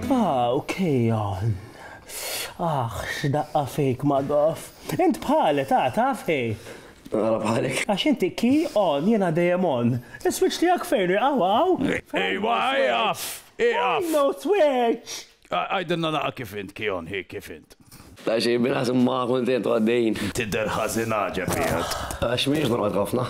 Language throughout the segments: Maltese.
Ah, ok, on. Ah, x'daqqa fejk ma gof. Int bħale, ta' ta' fej. Għara bħalek. Għax inti ki on jena dejjem on. Is-switch tiegħek fejn għaw għaw. Ejwa, ejaf, ejaf. No switch. Għajdinna naqa kif int ki on hi kif int. Ta' xej bilas ma kontent għaddejn. Tidder ħażin għaġeb jgħat. Għax miex normal ħafna.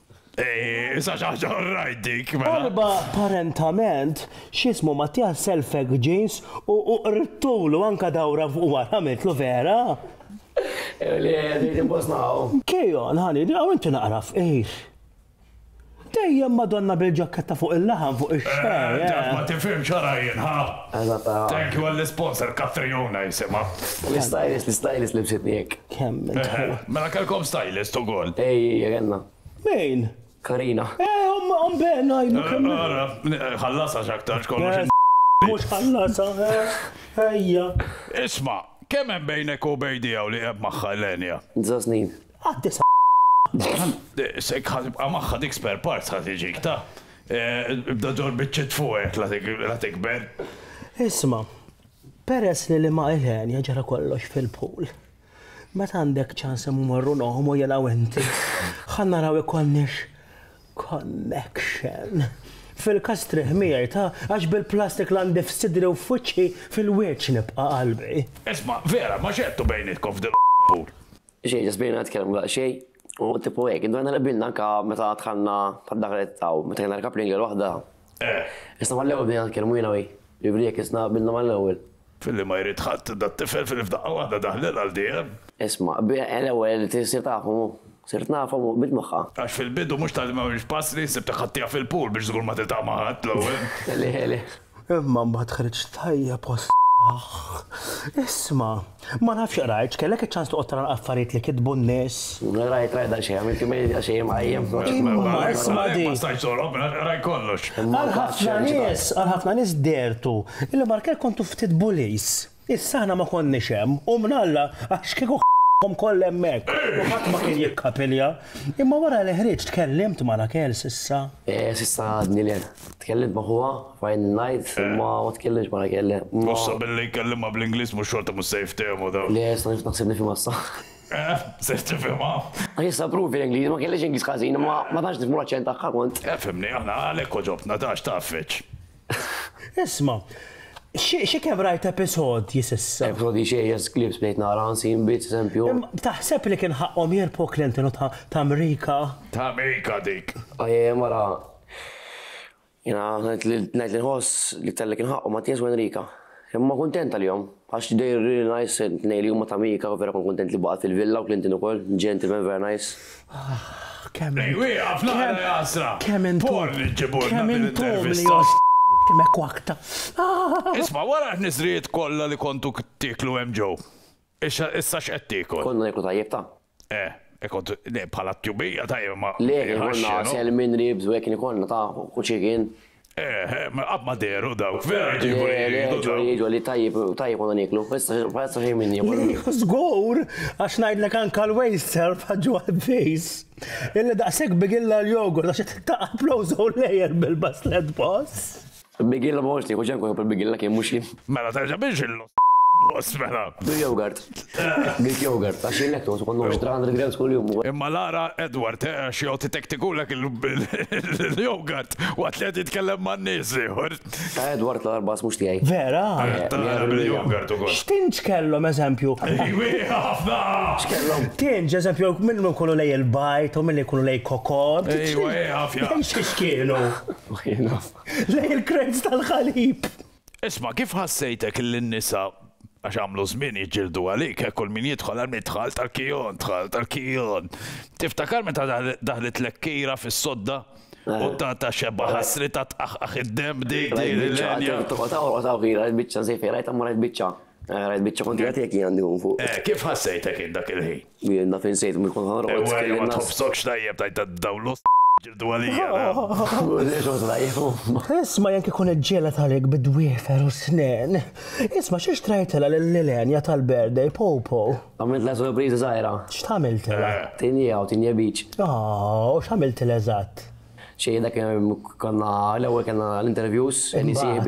Issa xaġa rajt dik. Mela. Apparentament, xismu Mattia selfek ġins u qrittulu anka dawra fuq wara għamiltlu vera. Li li nimpostaw. Kejon, ħani, għaw inti naqra fqir. Dejjem Madonna bil-ġakketta fuq il-laħam fuq ix-xejn. Ma tifhimx għara jien, ha? Thank you għall-isponsor Caffè Jona jisimha. L-istylist, l-istylist libsitni hekk. Kemm intaw. Mela kellkom stylist ukoll. Ej, ej, kellna. Min? Karina. Eh, omm omm Ben ngħidlu kemm. Ara, ħallasha x'aktarx kollox. Mhux ħallasha, eh, ejja. Isma', kemm hemm bejnek u Bejdi hawn li qegħed magħha Elenia? Disa' snin. Għad-disa' Sek ħa tibqa' magħha dik spare parts ħa tiġik ta'. Ibda ġor biċċiet fuqek la tikber. Isma', peress li li ma' Ilenia ġara kollox fil-pool, meta għandek ċans immorru noħmu jien u inti, ħa naraw ikonniex connection. Fil-każ strieħ miegħi ta' għax bil-plastik la ndif f'sidri u f'wiċċi fil-wiċċ nibqa' qalbi. Isma', vera, ma x'għedtu bejnietkom f'dil pool? Xejn, ġas bdejna nitkellmu daqsxejn u tipu hekk. Indunajna li qbilna anke meta dħalna tad-daħlet ta' u meta kellna l-coupling għal waħda. Eh. Isna mal-ewwel bdejna nitkellmu jiena u hi. Jiġifieri hekk isna qbilna mal-ewwel. Filli ma jrid ħadd dat-tifel filli f'daqqa waħda daħlel għal dejjem. Isma', l-ewwel issir tafhom u. Sirt nafhom u qbilt magħha. Għax fil-bidu mhux talli m'għamilx passi, sibtek ħadtiha fil-pool biex żgur ma tiltaqa' ma' ħadd l-ewwel. Le, le. Imma mbagħad ħriġt tajjeb għas-sħaħ. Isma', ma nafx qrajtx, kellek iċ-ċans toqgħod tara l-affarijiet li kitbu n-nies? Qrajt, qrajt għal xejn, għamilt jumejn għal xejn imqajjem. Imma isma' din. Ma stajtx toħrob minn hawn, qrajt kollox. Għal ħafna nies, għal ħafna nies dehertu li Mark Kerr kontu ftit bullies. Issa aħna ma konniex hemm, u mnalla għax kieku ħaqqhom kollha hemmhekk u ħadd ma kien jikkapilja. Imma wara li ħriġt tkellimt ma' Raquel s'issa? S'issa għadni le. Tkellimt ma' ħuha, Ryan Knight, imma ma tkellimtx ma' Raquel le. U sa billi jkellimha bl-Ingliż mhux xorta mhux se jiftehmu dawn. Le, issa nifs naħseb nifhimha issa. Eh, ser tifhimha. Għax issa provi l-Ingliż, ma kellix Ingliż ħażin imma ma tantx nifhmu l-aċċent tagħha kont. Efhimni aħna għalhekk għoġobtna, tantx tgħaffiġ. Isma, xi kemm rajt episodji s'issa. Episodji xejjeż, clips bdejt nara unseen bits, eżempju. Taħseb li kien ħaqqhom jirbħu Clinton u t'Amrika? T'Amrika dik! Ajajaj mara. Jiena ngħid li nħoss li talli kien ħaqqhom Mattias u Enrica. Imma kuntent għalihom, għax they really nice it-tnejn li huma ta' Mika u vera kont kuntent li baqgħet fil-villa u Clinton ukoll, gentlemen vera nice. Kemm Ej wieqaf naqra jaqsra! Kemm intom Porn li ġġibulna din intervista! Kemm hekk waqta. Isma' wara ħniżrijiet kollha li kontu tieklu hemm ġew. Issa x'qed tiekol? Konna nieklu tajjeb ta. Eh, e kont, le, bħala t-tjubija tajjeb ma. Le, kien ikollna għasel minn ribs u hekk kien ikollna ta' u chicken. Eh, eh, ma qatt ma dehru dawk, vera jġibu li jgħidu dawk. Jgħidu li tajjeb, tajjeb konna nieklu, issa xejn minni. Żgur, għax ngħidlek anke l-waste self ħaġġu għad-days. Illi daqshekk bigilla l-yogurt għax taqgħu applowżaw lejjer bil-baslet boss. Bigilla ma konx nieħu ġenn kieku l-bigilla kien mhux jien. Mela terġa' biex il. Boss mela. Greek yogurt. Greek yogurt. Għax jien lactose ikollu 300 grams kuljum. Imma l-ara Edward eh għax joqgħod itektikulek il-yogurt waqt li qed jitkellem ma' nies ieħor. Ta' Edward l-ara l-bass mhux tiegħi. Vera? Tara bil-yogurt ukoll. X'tinġ kellhom eżempju? Wieħa ħafna! X'kellhom? Tinġ eżempju minn min kollu lej il-bajd u minn li jkunu lej kokod. Ejwa ejwa fja. X'kienu? Ma jien naf. lejn il-krejz tal-ħalib. Isma' kif ħassejtek illi n-nisa għax għamlu żmien jiġġieldu għalik, hekk kull min jidħol għal min dħalt għal Kion, dħalt għal Kion. Tiftakar meta daħlitlek kira fis-sodda u ta' ta' xebba ħassri ta' tqaħqaħ id-dem dik din il-lenja. Toqgħod hawn toqgħod hawn kira l-biċċa żejfej rajt hemm rajt biċċa. Rajt biċċa kont qed jekk għandi fuq. Kif ħassejtek dak il-ħin? Jien naf insejt mhux kont ħanoqgħod Ewwa jew ma tħobbsokx tajjeb tgħid ta' dawn l-ost jiġġieldu għalija, naf. Isma' jekk ikun iġġieled għalik bi dwiefer u snien. Isma' xi xtrajtilha lil Ilenia tal-birthday, Popo? Għamiltla surpriża żgħira. X'tgħamiltilha? Tinjia u tinjia beach. Aww, u x'għamiltilha eżatt? Xejn dak konna l-ewwel kellna l-interviews, Imbagħad?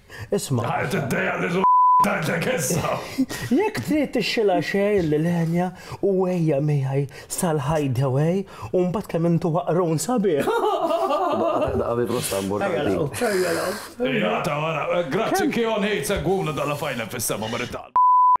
Isma'. Ħajt id-dejja li l. Tgħidlek issa! Jekk trid tixxilha xejn lil Enya u ejja miegħi sal-hideaway u mbagħad kemm intu waqrun sabiħ! Daqqa daqqa bi prosta importanti. Ejja ta' wara. Grazzi Keon Hate segwuna daqqa fajna fis-sema marittal.